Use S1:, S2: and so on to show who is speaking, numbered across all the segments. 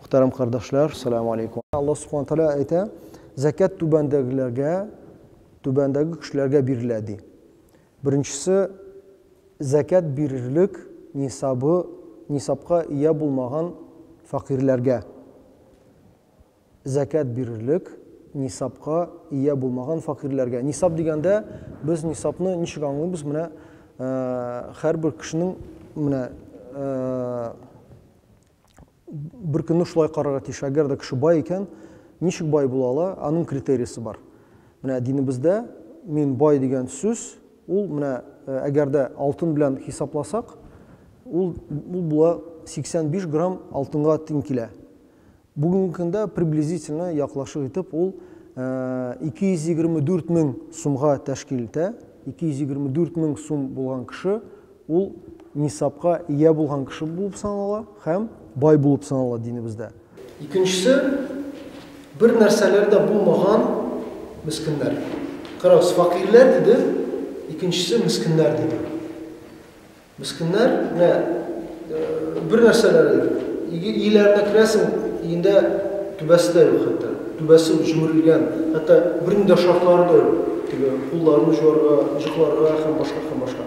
S1: Мөхтәрәм кардәшләр, сәлам алейкум. Аллаһ Субхана Тәгалә әйтә, Зәкят түбәндәгеләргә, түбәндәге кешеләргә бирелә, ди. Беренчесе, зәкят бирерлек нисабы, нисабка ия булмаган фәкыйрьләргә. Зәкят бирерлек нисабка ия булмаган фәкыйрьләргә. Нисаб дигәндә, без нисабны ничек аңлыйбыз? Менә һәрбер кешенең менә бер көнне шулай карарга тиеш. Әгәр дә кеше бай икән, ничек бай була ала? Аның критериясе бар. Менә динебездә мин бай дигән сүз, ул менә э, әгәр дә алтын белән хисапласак, ул, ул була 85 грамм алтынга тиң килә. Бүгенге көндә приблизительно яклашык итеп ул 224 э, мең сумга тәшкил итә. 224 мең сум булган кеше Ул нисабка ия булган кеше булып санала һәм бай булып санала динебездә. Икенчесе, бер нәрсәләре дә булмаган мескеннәр. Карагыз, фәкыйрьләр диде, икенчесе мескеннәр диде. Мескеннәр, менә бер нәрсәләре дә юк. Өйләренә керәсең, өендә түбәсе дә юк хәтта. Түбәсе җимерелгән, хәтта бернинди дә шартлары да юк, теге кулларын җуарга, җыкларга һәм башка һәм башка.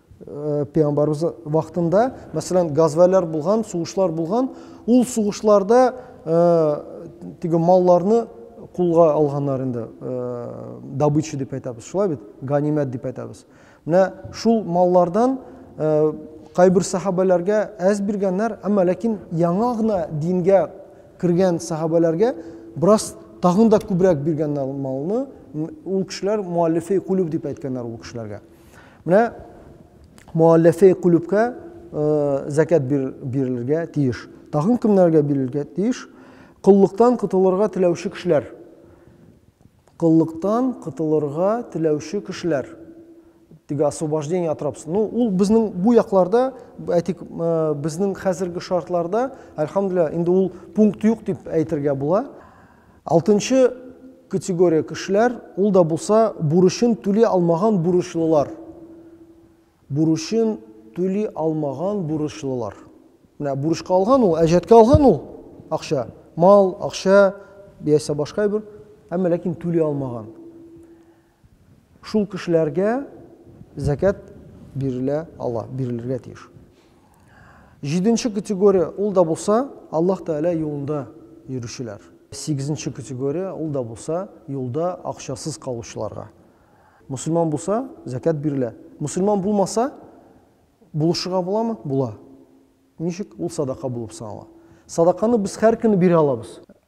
S1: пәйгамбарыбыз вакытында мәсәлән газвәләр булган сугышлар булган ул сугышларда теге малларны кулга алганнар инде добыча дип әйтәбез шулай бит ганимәт дип әйтәбез менә шул маллардан кайбер сахабәләргә әз биргәннәр әмма ләкин яңа гына дингә кергән сахабәләргә бераз тагын да күбрәк биргәннәр малны ул кешеләр муаллифи кулюб дип әйткәннәр ул кешеләргә Менә муалләфе кулүбкә зәкәт бирелергә тиеш. Тагын кемнәргә бирелергә тиеш? Коллыктан котылырга теләүче кешеләр. Коллыктан котылырга теләүче кешеләр. Теге освобождение от рабства. Ну, ул безнең бу якларда, әйтик, безнең хәзерге шартларда, альхамдулилла, инде ул пункт юк дип әйтергә була. Алтынчы категория кешеләр, ул да булса бурычын түли алмаган бурычлылар. Бурычын түли алмаган бурычлылар. Менә бурычка алган ул, әҗәткә алган ул акча, мал, акча, яисә башка әйбер, әмма ләкин түли алмаган. Шул кешеләргә зәкят бирелә ала, бирелергә тиеш. Җиденче категория, ул да булса, Аллаһ Тәгалә юлында йөрүчеләр. Сигезенче категория, ул да булса, юлда акчасыз калучыларга. Мөселман булса, зәкят бирелә. Мөселман булмаса, булышырга буламы? Була. Ничек? Ул садака булып санала. Садаканы без һәр көнне бирә алабыз.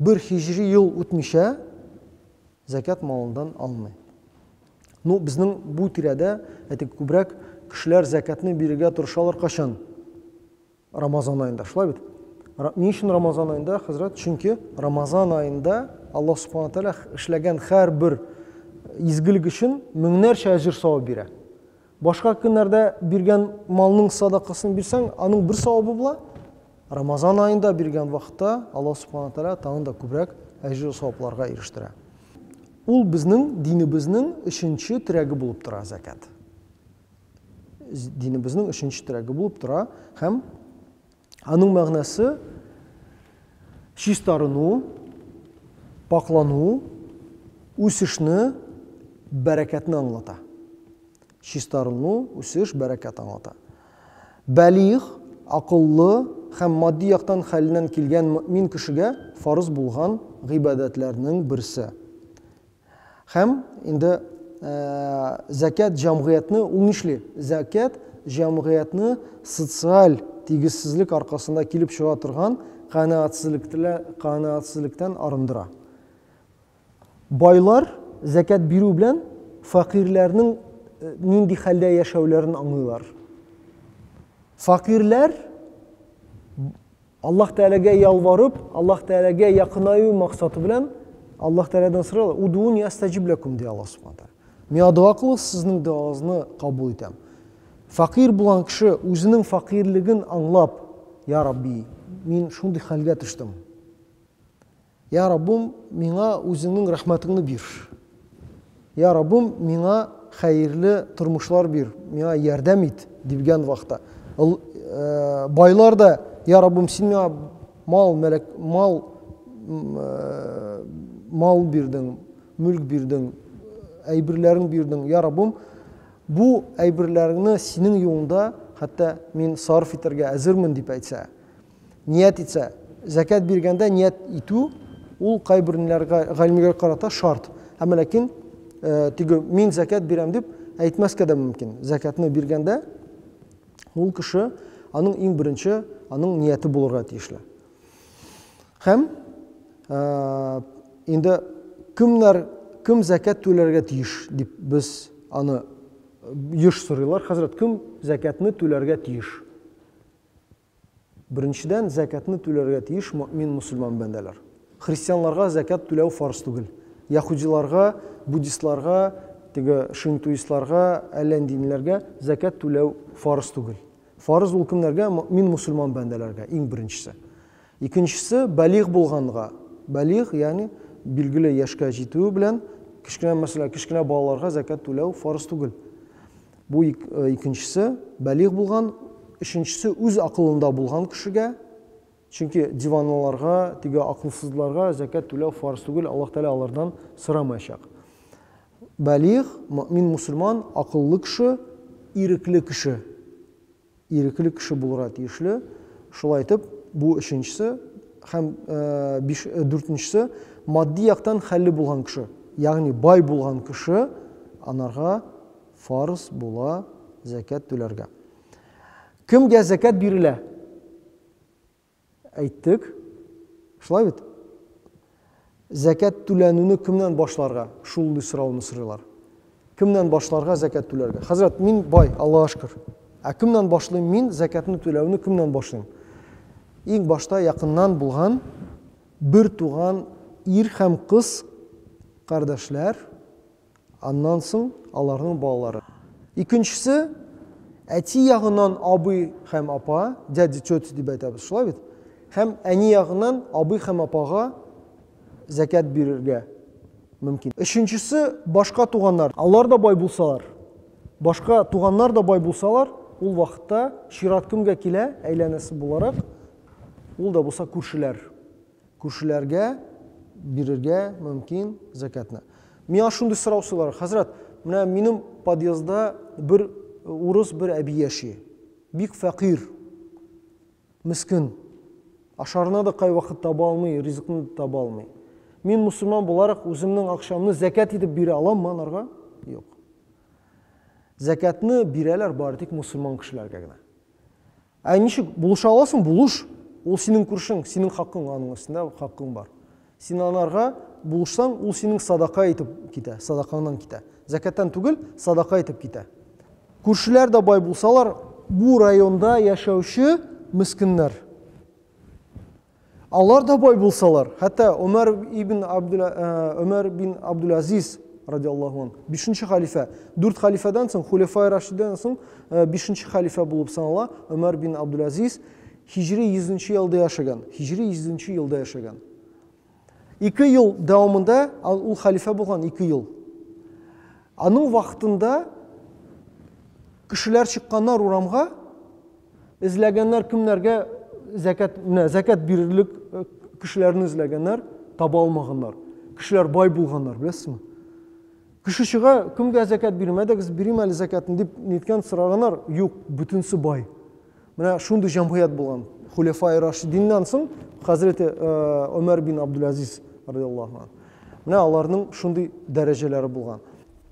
S1: Бер һиҗри ел үтмичә зәкят малындан алмый. Ну, безнең бу тирәдә, әйтик, күбрәк кешеләр зәкятны бирергә тырышалар качан? Рамазан аенда, шулай бит? Ни өчен Рамазан аенда, хәзрәт? Чөнки Рамазан аенда Аллаһ Субхану Тәгалә эшләгән һәрбер изгелек өчен меңнәрчә әҗер савап бирә. Башка көннәрдә биргән малның садакасын бирсәң, аның бер савабы була. Рамазан аенда биргән вакытта Аллаһ Субхана Тәгалә тагын да күбрәк әҗер савапларга ирештерә. Ул безнең динебезнең өченче терәге булып тора зәкят. Динебезнең өченче терәге булып тора һәм Аның мәгънәсе чистарыну, пакълану, үсешне, бәрәкәтне аңлата. Чистарыну, үсеш, бәрәкәт аңлата. Бәлигъ, акыллы һәм матди яктан хәленнән килгән мөэмин кешегә фарыз булган гыйбадәтләрнең берсе. Һәм инде зәкят җәмгыятьне ул нишли? Зәкят җәмгыятьне социаль тигезсезлек аркасында килеп чыга торган канәгатьсезлектән арындыра. Байлар зәкят бирү белән фәкыйрьләрнең нинди хәлдә яшәүләрен аңлыйлар. Фәкыйрьләр Аллаһ Тәгаләгә ялварып, Аллаһ Тәгаләгә якынаю максаты белән Аллаһ Тәгаләдән сорыйлар. Удууни астаҗиб ләкум, ди Аллаһ Субхана Тәгалә. Миңа дога кылыгыз, сезнең доганыгызны кабул итәм. Факир булган кеше үзенең факирлеген аңлап, Я Рабби, мин шундый хәлгә төштем. Йа Раббым, миңа үзеңнең рәхмәтеңне бир. Йа Раббым, миңа хәерле тормышлар бир, миңа ярдәм ит, дибгән вакытта. Ул байлар да, Йа Раббым, син миңа мал, мәләк, мал, мал бирдең, мөлк бирдең, әйберләрен бирдең. Йа Раббым, бу әйберләреңне синең юлыңда хәтта мин сарыф итәргә әзермен, дип әйтсә. Ният итсә, зәкят биргәндә ният итү ул кайбер галимнәргә карата шарт. Әмма ләкин э, теге мин зәкят бирәм дип әйтмәскә дә мөмкин. Зәкятны биргәндә ул кеше аның иң беренче аның нияте булырга тиешле. Һәм э, инде кемнәр кем зәкят түләргә тиеш дип без аны еш сорыйлар. Хәзрәт, кем зәкятны түләргә тиеш? Беренчедән, зәкятны түләргә тиеш мөэмин мөселман бәндәләр. Христианларга зәкят түләү фарыз түгел. Яһүдиларга, буддистларга, теге шинтуистларга, әллә нинди ниләргә зәкят түләү фарыз түгел. Фарыз ул кемнәргә? Мөэмин мөселман бәндәләргә, иң беренчесе. Икенчесе, балигъ булганга. Балигъ, ягъни билгеле яшькә җитүе белән, кечкенә мәсьәлә, кечкенә балаларга зәкят түләү фарыз түгел. Бу икенчесе, бәлигъ булган, өченчесе үз акылында булган кешегә, чөнки диванлыларга, теге акылсызларга зәкят түләү фарыз түгел, Аллаһ Тәгалә алардан сорамаячак. Бәлигъ, мөэмин мусульман, акыллы кеше, ирекле кеше. ирекле кеше булырга тиешле, шулай итеп, бу өченчесе һәм биш, дүртенчесе матди яктан хәлле булган кеше, ягъни бай булган кеше анарга фарыз була зәкят түләргә. Кемгә зәкят бирелә? Әйттек. Шулай бит? Зәкят түләнүне кемнән башларга? Шундый сорауны сорыйлар. Кемнән башларга зәкят түләргә? Хәзрәт, мин бай, Аллага шөкер. Ә кемнән башлыйм мин зәкятны түләүне кемнән башлыйм? Иң башта якыннан булган бер туган ир һәм кыз кардәшләр Аннан соң аларның балалары. Икенчесе, әти ягыннан абый һәм апа, дядя, тетя дип әйтәбез, шулай бит? Һәм әни ягыннан абый һәм апага зәкят бирергә мөмкин. Өченчесе, башка туганнар. Алар да бай булсалар, башка туганнар да бай булсалар, ул вакытта чират кемгә килә, әйләнәсе буларак? Ул да булса күршеләр. Күршеләргә бирергә мөмкин зәкәтне. Миңа шундый сорау сорыйлар, хәзрәт, менә минем подъездда бер урыс бер әби яши. Бик фәкыйрь, мескин. Ашарына да кайвакыт таба алмый, ризыкны да таба алмый. Мин мусульман буларак үземнең акчамны зәкәт итеп бирә аламмы анарга? Юк. Зәкәтне бирәләр бары тик мусульман кешеләргә генә. Ә ничек булыша аласың? Булыш. Ул синең күршең, синең хакың аның өстендә хакың бар. Син анарга булышсаң, ул синең садака итеп китә, садакаңнан китә. Зәкәттән түгел, садака итеп китә. Күршеләр дә бай булсалар, бу районда яшәүче мескеннәр. Алар да бай булсалар, хәтта Омар ибн Абдул Омар бин Абдул Азиз радиаллаху ан, бишенче хәлифә, дүрт хәлифәдән соң, хулефай рашидән соң, э, бишенче хәлифә булып санала, Омар бин Абдул Азиз, хижри 100 елда яшәгән, хижри 100 елда яшәгән. Ике ел дәвамында ул хәлифә булган, ике ел. Аның вакытында кешеләр чыкканнар урамга, Эзләгәннәр кемнәргә зәкят, менә зәкят бирерлек э, кешеләрне эзләгәннәр, таба алмаганнар. Кешеләр бай булганнар, беләсезме? Кеше чыга, кемгә зәкят бирмәдегез, бирим әле зәкятын дип ниткән сораганнар, юк, бөтенсе бай. Менә шундый җәмгыять булган. Хулефай Рашидиннан соң хәзрәте Өмәр э, бин Абдуләзиз радиаллаһу анһу. Менә аларның шундый дәрәҗәләре булган.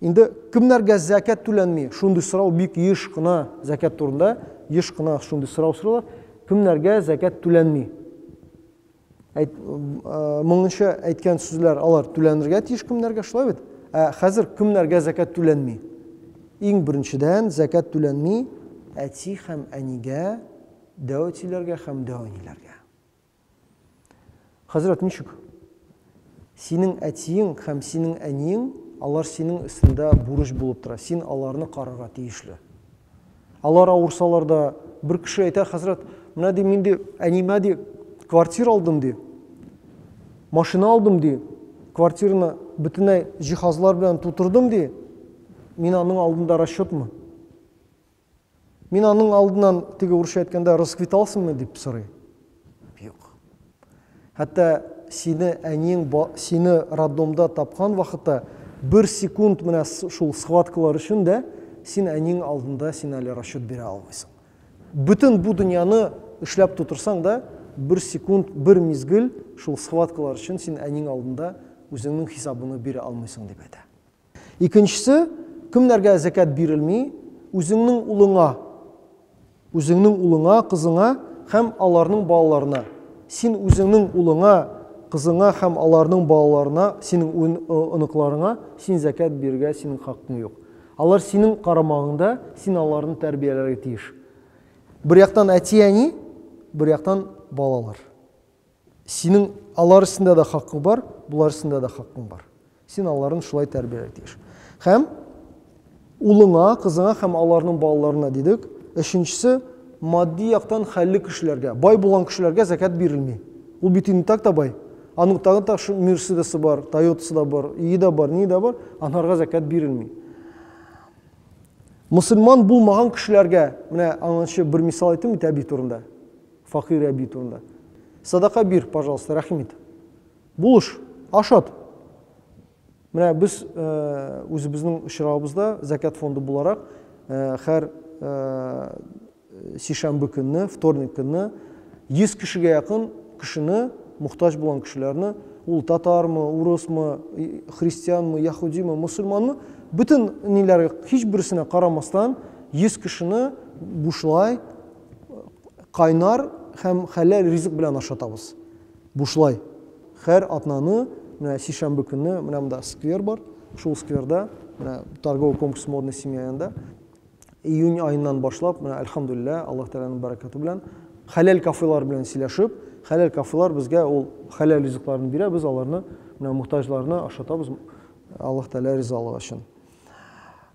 S1: Инде кемнәргә зәкят түләнми? Шундый сорау бик еш кына зәкят турында, еш кына шундый сорау сорыйлар. Кемнәргә зәкят түләнми? Әйт, моңынча әйткән сүзләр алар түләнергә тиеш кемнәргә, шулай бит? Ә хәзер кемнәргә зәкят түләнми? Иң беренчедән зәкят түләнми әти һәм әнигә, дәү әтиләргә һәм дәү әниләргә. Хәзрәт, ничек? Синең әтиең һәм синең әниең, алар синең өстендә бурыч булып тора. Син аларны карарга тиешле. Алар авырсалар да, бер кеше әйтә, хәзрәт, менә ди, мин ди, әнимә ди, квартира алдым ди, машина алдым ди, квартираны бөтенләй җиһазлар белән тутырдым ди, мин аның алдында расчетмы? Мин аның алдыннан, теге урысча әйткәндә, расквиталсыңмы дип сорый. Юк. Хәтта сине әниең ба- сине роддомда тапкан вакытта бер секунд менә с- шул схваткалар өчен дә син әниең алдында син әле расчет бирә алмыйсың. Бөтен бу дөньяны эшләп тутырсаң да, бер секунд, бер мизгел шул схваткалар өчен син әниең алдында үзеңнең хисабыңны бирә алмыйсың, дип әйтә. Икенчесе, кемнәргә зәкят бирелми, үзеңнең улыңа, үзеңнең улыңа, кызыңа һәм аларның балаларына. Син үзеңнең улыңа, кызыңа һәм аларның балаларына, синең ун, оныкларыңа син зәкят бирергә синең хаккың юк. Алар синең карамагыңда, син аларны тәрбияләргә тиеш. Бер яктан әти-әни, бер яктан балалар. Синең алар өстендә дә хакың бар, болар өстендә дә хакың бар. Син аларын шулай тәрбияләргә тиеш. Һәм улыңа, кызыңа һәм аларның балаларына дидек. Өченчесе, матди яктан хәлле кешеләргә, бай булган кешеләргә зәкәт бирелми. Ул бит инде так та бай. Аның тагын так Мерседесы бар, Тойотасы да бар, ие дә бар, ни дә бар, анарга зәкәт бирелми. Мусульман булмаган кешеләргә, менә аннанчы бер мисал әйтим бит әби турында. Факир әби турында. Садака бир, пожалуйста, рәхим ит. Булыш, ашат. Менә без үзебезнең очрагыбызда Зәкят фонды буларак һәр сишәмбе көнне, вторник көнне 100 кешегә якын кешене, мохтаҗ булган кешеләрне, ул татармы, урысмы, христианмы, яһудимы, мусульманмы, бөтен ниләргә һичберсенә карамастан 100 кешене бушлай кайнар һәм хәләл ризык белән ашатабыз. Бушлай. Хәр атнаны, менә сишәмбе көнне, менә монда сквер бар, шул скверда, менә торговый комплекс Модная семья янында, июнь аеннан башлап, менә әлхәмдүлиллә, Аллаһ Тәгаләнең бәрәкәте белән, хәләл кафелар белән сөйләшеп, хәләл кафелар безгә ул хәләл ризыкларын бирә, без аларны, менә мохтаҗларны ашатабыз, Аллаһ Тәгалә ризалыгы өчен.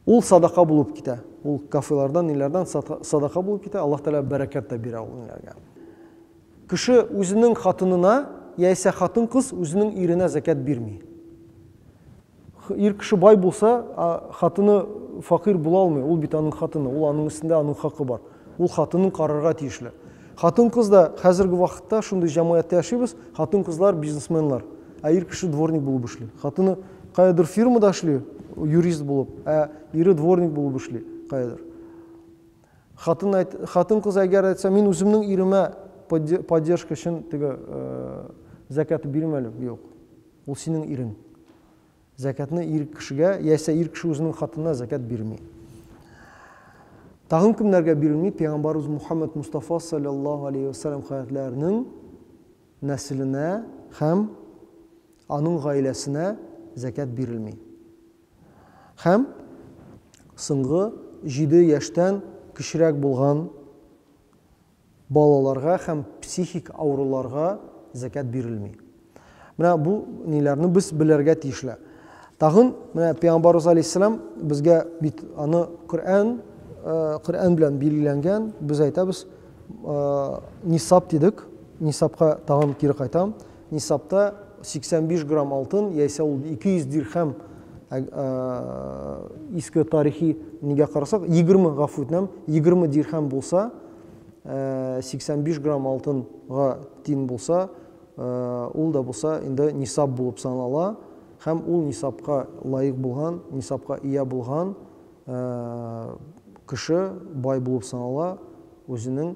S1: Ул садака булып китә. Ул кафелардан, ниләрдән садака булып китә. Аллаһ Тәгалә бәрәкәт тә бирә ул ниләргә. Кеше үзенең хатынына яисә хатын-кыз үзенең иренә закят бирми. Ир кеше бай булса, хатыны факир була алмый. Ул бит аның хатыны, ул аның өстендә аның хакы бар. Ул хатынын карарга тиешле. Хатын-кыз да хәзерге вакытта шундый җәмгыятьтә яшибез, хатын-кызлар бизнесменлар, ә ир кеше дворник булып эшли. Хатыны каядыр фирмада эшли, юрист булып, ә ире дворник булып эшли каядыр. Хатын әйт, хатын-кыз әгәр әйтсә, мин үземнең иремә поддержка өчен теге э, зәкәт бирмәле, юк. Ул синең ирең. Зәкятны ир кешегә яисә ир кеше үзенең хатынына зәкят бирми. Тагын кемнәргә бирелми? Пәйгамбарыбыз Мухаммад Мустафа саллаллаһу алейһи ва саллям хәзрәтләренең нәселенә һәм аның гаиләсенә зәкят бирелми. Һәм соңгы 7 яшьтән кечерәк булган Балаларга һәм психик авыруларга зәкят бирелми. Менә бу ниләрне без белергә тиешле. Тагын менә пәйгамбарыбыз алейһиссәлам безгә бит аны Коръән Коръән белән билгеләнгән, без әйтәбез нисап дидек, нисапка тагын кире кайтам. нисабта 85 грамм алтын, яисә ул 200 дирхәм ә, ә, иске тарихи нигә карасак, 20 гафу үтенәм, 20 дирхәм булса, ә, 85 грамм алтынга тиң булса, ә, ул да булса инде нисаб булып санала һәм ул нисабка лаек булган, нисабка ия булган ә, кеше бай булып санала, үзенең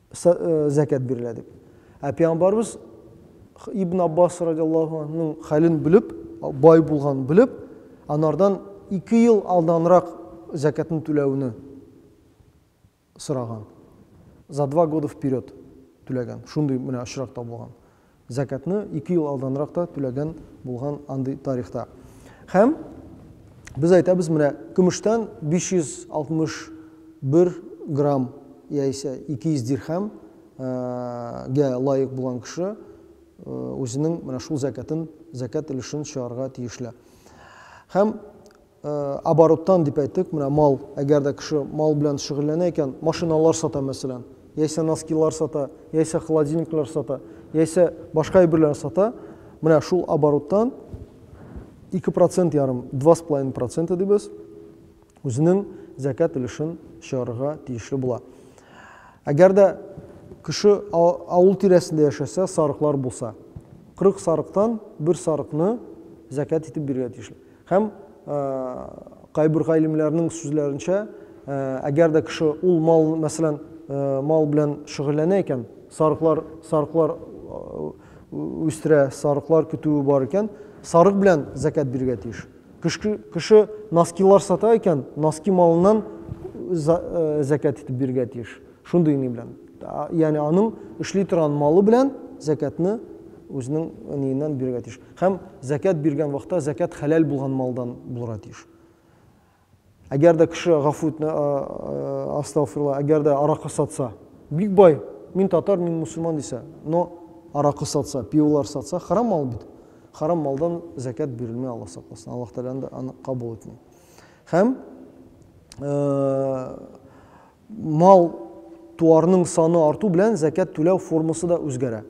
S1: зәкят бирелә дип. Ә пәйгамбәрбез Ибн Аббас радиллаһу анһуның хәлен белеп, бай булган белеп, анардан 2 ел алданрак зәкятны түләүне сораган. За два года вперед түләгән. Шундый менә очрак табылган. Зәкятны ике ел алданрак та түләгән булган андый тарихта. Һәм без әйтәбез, менә көмештән 561 грамм яисә 200 дирхәм гә лаек булган кеше үзенең менә шул зәкятын, зәкят өлешен чыгарга тиешле. Һәм Обороттан дип әйттек, менә мал, әгәр дә кеше мал белән шөгыльләнә икән, машиналар сата, мәсәлән, яисә носкилар сата, яисә холодильниклар сата, яисә башка әйберләр сата, менә шул обороттан 2 процент ярым, 2,5 проценты дибез, үзенең зәкәт өлешен чыгарырга тиешле була. Әгәр дә кеше авыл тирәсендә яшәсә, сарыклар булса, 40 сарыктан бер сарыкны зәкәт итеп бирергә тиешле. Һәм, кайбер галимнәрнең сүзләренчә, әгәр дә кеше ул мал, мәсәлән, мал белән шөгыльләнә икән, сарыклар, сарыклар үстерә, сарыклар көтүе бар икән, сарык белән зәкәт бирергә тиеш. Кеше, кеше носкилар сата икән, носки малыннан зәкәт итеп бирергә тиеш. Шундый ни белән. Ягъни аның эшли торган малы белән зәкәтне үзенең ниеннән бирергә тиеш. Һәм зәкят биргән вакытта зәкят хәләл булган малдан булырга тиеш. Әгәр дә кеше гафу итне, астагфирла, әгәр дә аракы сатса, бик бай, мин татар, мин мусульман дисә, но аракы сатса, пиволар сатса, харам мал бит. Харам малдан зәкят бирелми, Аллаһ сакласын. Аллаһ Тәгалә анда аны кабул итми. Һәм мал туарның саны арту белән зәкят түләү формасы да үзгәрә.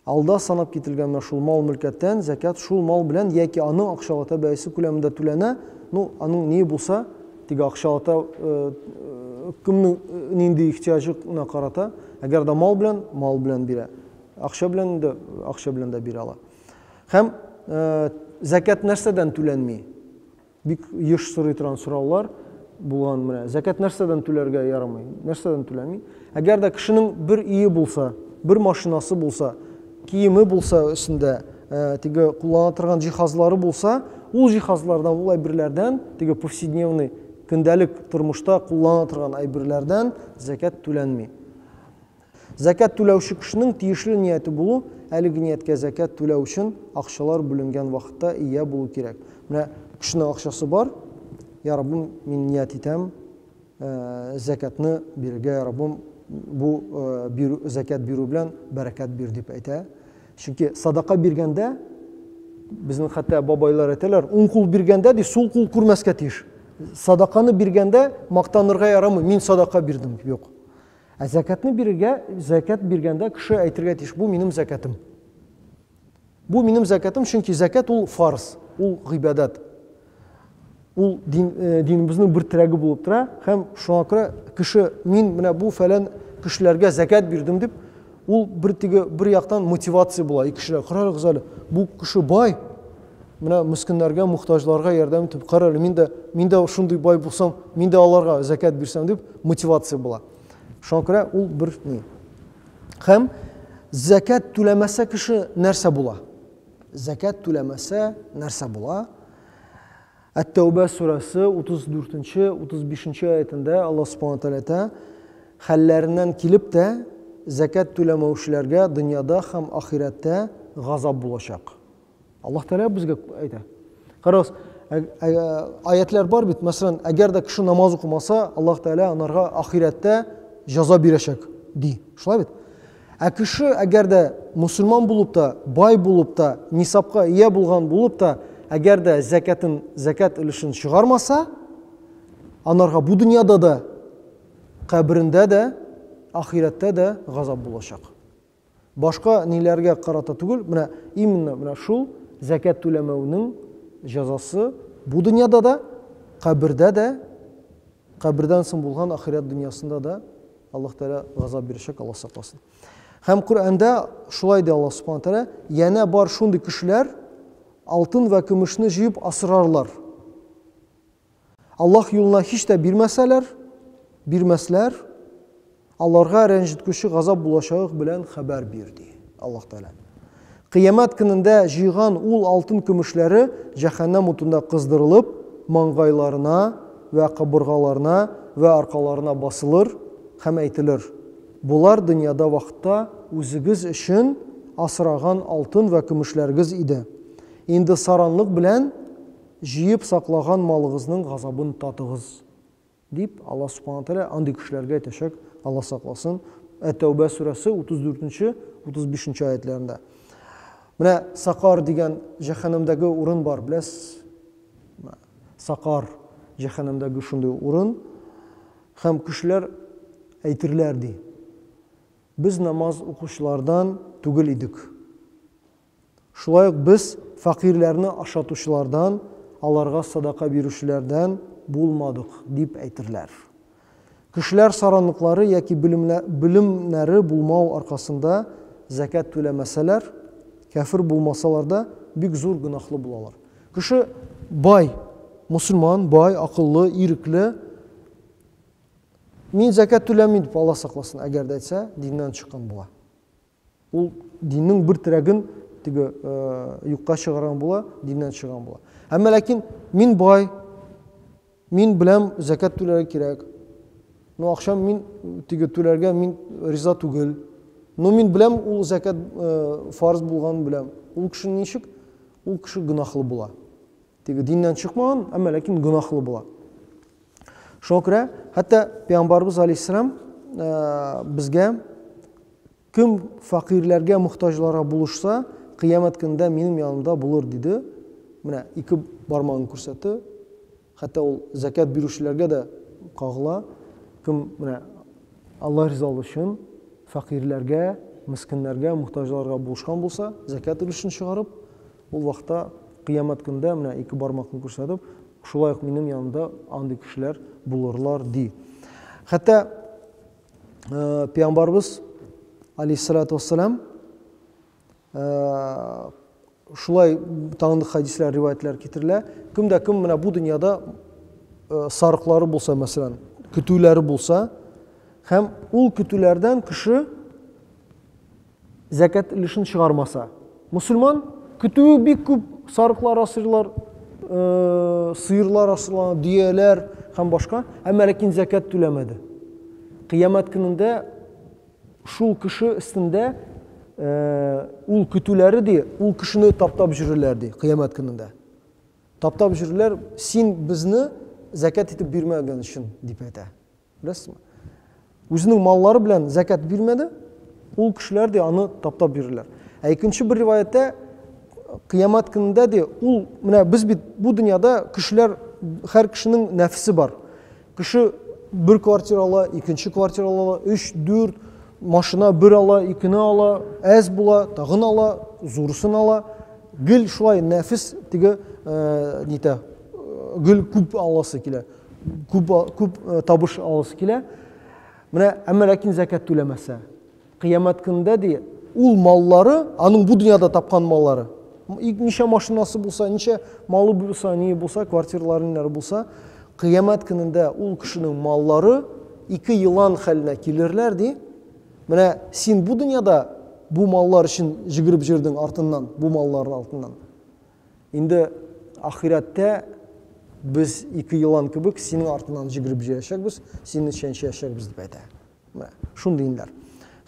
S1: Алда санап кителгән менә шул мал-мөлкәттән зәкят шул мал белән яки аның акчалата бәясе күләмендә түләнә. Ну, аның ние булса, теге акчалата кемнең нинди ихтиаҗына карата, әгәр дә мал белән, мал белән бирә. Акча белән инде акча белән дә бирә ала. Һәм зәкят нәрсәдән түләнми? Бик еш сорый торган сораулар булган менә. Зәкәт нәрсәдән түләргә ярамый? Нәрсәдән түләми? Әгәр дә кешенең бер өе булса, бер машинасы булса, киеме булса өстендә, э, теге куллана торган җиһазлары булса, ул җиһазлардан, ул әйберләрдән, теге повседневный көндәлек тормышта куллана торган әйберләрдән зәкәт түләнми. Зәкят түләүче кешенең тиешле нияте булу, әлеге нияткә зәкят түләү өчен акчалар бүленгән вакытта ия булу кирәк. Менә кешенең акчасы бар, я Раббым, мин ният итәм, зәкятны бирергә, я Раббым, бу бирү, зәкят бирү белән бәрәкәт бир дип әйтә. Чөнки садака биргәндә, безнең хәтта бабайлар әйтәләр, уң кул биргәндә, ди, сул кул күрмәскә тиеш. Садаканы биргәндә мактанырга ярамый, мин садака бирдем, юк. Ә зәкәтне бирергә, зәкәт биргәндә кеше әйтергә тиеш, бу минем зәкәтем. Бу минем зәкәтем, чөнки зәкәт ул фарз, ул гыйбадәт. Ул дин, э, динебезнең бер терәге булып тора һәм шуңа күрә кеше мин менә бу фәлән кешеләргә зәкәт бирдем дип Ул бер теге бер яктан мотивация була ике кешеләр. Карагыз әле, бу кеше бай. Менә мескеннәргә, мухтаҗларга ярдәм итеп, кара әле, мин дә мин дә шундый бай булсам, мин дә аларга закят бирсәм дип мотивация була. Шуңа күрә ул бер ни. Һәм закят түләмәсә кеше нәрсә була? Закят түләмәсә нәрсә була? Әт-Тәүбә сүрәсе 34 нче, 35 нче аятендә Аллаһ Субхана Тәгаләтә хәлләреннән килеп тә зәкят түләмәүчеләргә дөньяда һәм ахирәттә газап булачак. Аллаһ Тәгалә безгә әйтә. Карагыз, аятлар бар бит, мәсәлән, әгәр дә кеше намаз укымаса, Аллаһ Тәгалә анарга ахирәттә җаза бирәчәк, ди. Шулай бит? Ә кеше, әгәр дә мөселман булып та, бай булып та, нисабка ия булган булып та, әгәр дә зәкәтен, зәкәт өлешен чыгармаса, анарга бу дөньяда да, каберендә дә, ахирәттә дә газап булачак. Башка ниләргә карата түгел, менә именно менә шул зәкәт түләмәүнең җәзасы бу дөньяда да, кабердә дә Кабердән соң булган ахирәт дөньясында да Аллаһ Тәгалә газап бирәчәк, Аллаһ сакласын. Һәм Коръәндә шулай ди Аллаһ Субхаһу Тәгалә, янә бар шундый кешеләр алтын вә көмешне җыеп асрарлар. Аллаһ юлына һич тә бирмәсәләр, бирмәсләр, Аларга рәнҗеткүче газап булачагык белән хәбәр бир, ди Аллаһ Тәгалә. Кыямәт көнендә җыйган ул алтын-көмешләре җәһәннәм утында кыздырылып, маңгайларына вә кабыргаларына вә аркаларына басылыр һәм әйтелер, Болар дөньяда вакытта үзегез өчен асраган алтын вә көмешләрегез иде. Инде саранлык белән җыеп саклаган малыгызның газабын татыгыз. Дип, Аллаһ Субхана ва Тәгалә андый кешеләргә әйтәчәк, Аллаһ сакласын, Әт-Тәүбә сүрәсе 34 нче, 35 нче аятьләрендә. Менә Сакар дигән җәһәннәмдәге урын бар, беләсез? Сакар җәһәннәмдәге шундый урын. Һәм кешеләр әйтерләр, ди, без намаз укучылардан түгел идек. Шулай ук без фәкыйрьләрне ашатучылардан, аларга садака бирүчеләрдән булмадык, дип әйтерләр. Кешеләр саранлыклары яки белемнәре булмау аркасында зәкят түләмәсәләр, кяфер булмасалар да, бик зур гөнаһлы булалар. Кеше бай, мөселман, бай, акыллы, ирекле, мин зәкят түләмим дип, Алла сакласын, әгәр дә әйтсә, диннән чыккан була. Ул диннең бер терәген теге юкка чыгарган була, диннән чыгарган була. Әмма ләкин мин бай, мин беләм зәкәт түләргә кирәк. Но акчам мин теге түләргә мин риза түгел. Но мин беләм ул зәкәт фарз булганын беләм. Ул кеше ничек? Ул кеше гөнаһлы була. Теге диннән чыкмаган, әмма ләкин гөнаһлы була. Шуңа күрә хәтта пәйгамбарыбыз алейһиссәлам э, безгә кем факирләргә мохтаҗларга булышса, кыямәт көндә минем янымда булыр диде. Менә ике бармагын күрсәтте. Хәтта ул закят бирүчеләргә дә кагыла. Кем менә Алла ризалыгы өчен факирләргә, мискиннәргә, мохтаҗларга булышкан булса, закят өлешен чыгарып, Ул вакытта, Кыямәт көндә, менә ике бармакны күрсәтеп, шулай ук минем янымда андый кешеләр булырлар, ди. Хәтта пәйгамбарыбыз алейһиссалату вассалам шулай таңдык хәдисләр, риваятлар китерелә. Кем дә кем менә бу дөньяда сарыклары булса, мәсәлән, көтүләре булса, һәм ул көтүләрдән кеше Зәкят өлешен чыгармаса. Мөселман көтүе бик күп сарыклар асыйлар, э, сыерлар асыла, дөяләр һәм башка, әмма ләкин зәкят түләмәде. Кыямәт көнендә шул кеше өстендә э, ул көтүләре ди, ул кешене таптап җөрерләр ди, кыямәт көнендә. Таптап җөрерләр, син безне зәкят итеп бирмәгән өчен дип әйтә. Беләсезме? Үзенең маллары белән зәкәт бирмәде, ул кешеләр дә аны таптап бирерләр. Ә икенче бер риваятьтә кыямәт көнендә дә ул менә без бит бу дөньяда кешеләр һәр кешенең нәфсе бар. Кеше бер квартира ала, икенче квартира ала, 3, 4 машина бер ала, икене ала, әз була, тагын ала, зурысын ала. Гел шулай нәфис теге э, нитә, э, гел күп аласы килә. күп, күп табыш аласы килә. Менә әмма ләкин зәкәт түләмәсә, кыямәт көндә ди, ул маллары, аның бу дөньяда тапкан маллары, ничә машинасы булса, ничә малы булса, ни булса, квартиралары ниләр булса, кыямәт көнендә ул кешенең маллары ике елан хәленә килерләр ди. Менә син бу дөньяда бу маллар өчен җигереп җөрдең артыннан, бу маллар артыннан. Инде ахирәттә без ике елан кебек синең артыңнан җигереп җыячакбыз, сине чәнчәячәкбез, дип әйтә. Менә шундый инләр.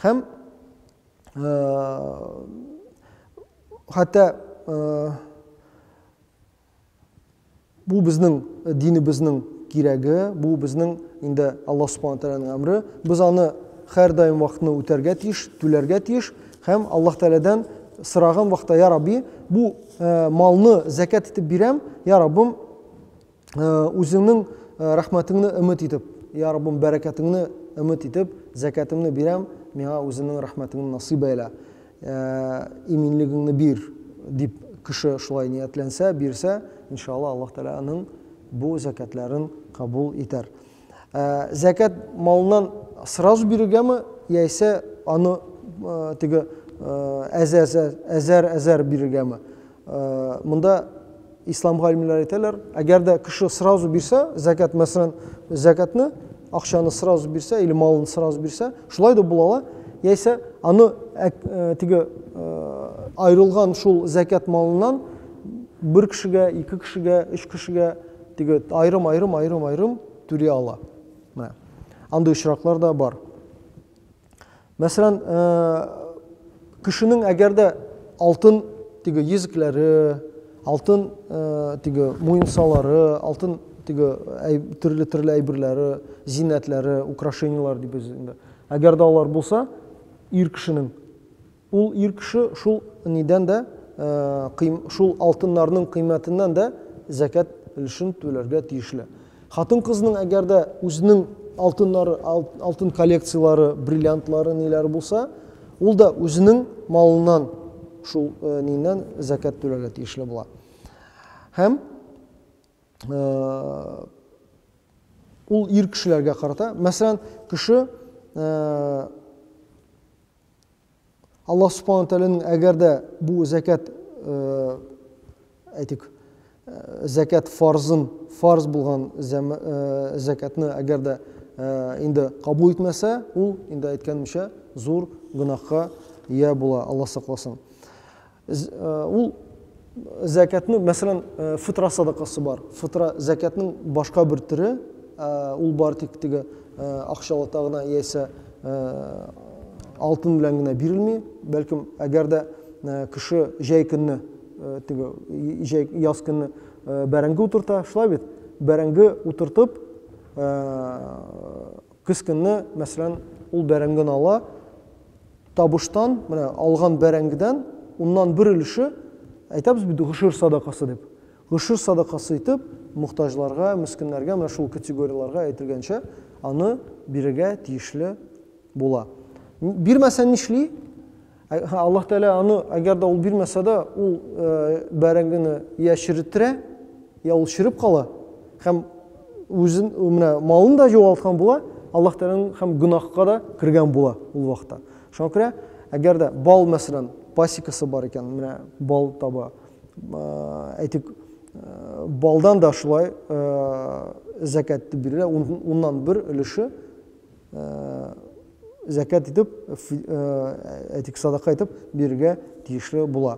S1: Һәм хәтта Бу безнең динебезнең кирәге, бу безнең инде Аллаһ Субхана ва Тәгаләнең әмере. Без аны һәрдаим вакытны үтәргә тиеш, түләргә тиеш һәм Аллаһ Тәгаләдән сораган вакытта, я Рабби, бу э, малны зәкят итеп бирәм, я Раббым, э, үзеңнең э, рәхмәтеңне өмет итеп, я Раббым, бәрәкәтеңне өмет итеп, зәкәтемне бирәм, миңа үзеңнең рәхмәтеңне насыйп әйлә. Ә иминлегеңне бир, дип кеше шулай ниятләнсә, бирсә, иншалла, Аллаһ Тәгалә аның бу зәкятләрен кабул итәр. Ә зәкят малыннан сразу бирергәме, яисә аны теге әзәр-әзәр бирергәме? Монда ислам галимнәре әйтәләр, әгәр дә кеше сразу бирсә, зәкят, мәсәлән, зәкятны, акчаны сразу бирсә или малын сразу бирсә, шулай да була ала, яисә аны э, теге э, аерылган шул зәкят малыннан бер кешегә, ике кешегә, өч кешегә теге айрым, айрым, айрым, айрым түли ала. Менә. Андый очраклар да бар. Мәсәлән, кешенең әгәр дә алтын теге йөзекләре, алтын теге муенсалары, алтын теге төрле-төрле әйберләре, зиннәтләре, украшениеләр дип без инде. Әгәр дә алар булса, ир кешенең ул ир кеше шул нидән дә шул алтыннарның кыйммәтеннән дә зәкят өлешен түләргә тиешле. Хатын-кызның әгәр дә үзенең алтыннары, алтын коллекцияләре, бриллиантлары, ниләре булса, ул да үзенең малыннан, шул э, ниннән зәкәт түләргә тиешле була. Һәм э, ул ир кешеләргә карата, мәсәлән, кеше э, Аллаһ Субхана ва Тәгаләнең әгәр дә бу зәкят, әйтик, зәкят фарзын, фарз булган зәкятны әгәр дә инде кабул итмәсә, ул инде әйткәнемчә зур гөнаһка ия була, Аллаһ сакласын. Ул зәкятне, мәсәлән, фитра садакасы бар. Фитра зәкятның башка бер төре, ул бар тик теге акчалата гына яисә алтын белән генә бирелми. Бәлкем, әгәр дә кеше җәй көнне, теге җәй яз көнне бәрәңге утырта, шулай бит? Бәрәңге утыртып, Көз көнне, мәсәлән, ул бәрәңген ала, табыштан, менә алган бәрәңгедән уннан бер өлеше, әйтәбез бит гошер садакасы дип, гошер садакасы итеп мохтаҗларга, мескеннәргә, менә шул категорияләргә әйтелгәнчә, аны бирергә тиешле була. Бирмәсә нишли? Ә- һә, Аллаһ Тәгалә аны, әгәр дә ул бирмәсә дә, ул э, бәрәңгене йә черетерә, йә ул череп кала һәм үзен э, менә малын да югалткан була, Аллаһ Тәгаләнең һәм гөнаһка да кергән була ул вакытта. Шуңа күрә, әгәр дә бал, мәсәлән, пасекасы бар икән, менә бал таба, э, әйтик, э, балдан да шулай э, зәкәт дип бирелә, ун- уннан бер өлеше зәкят итеп, әйтик, садака итеп бирергә тиешле була.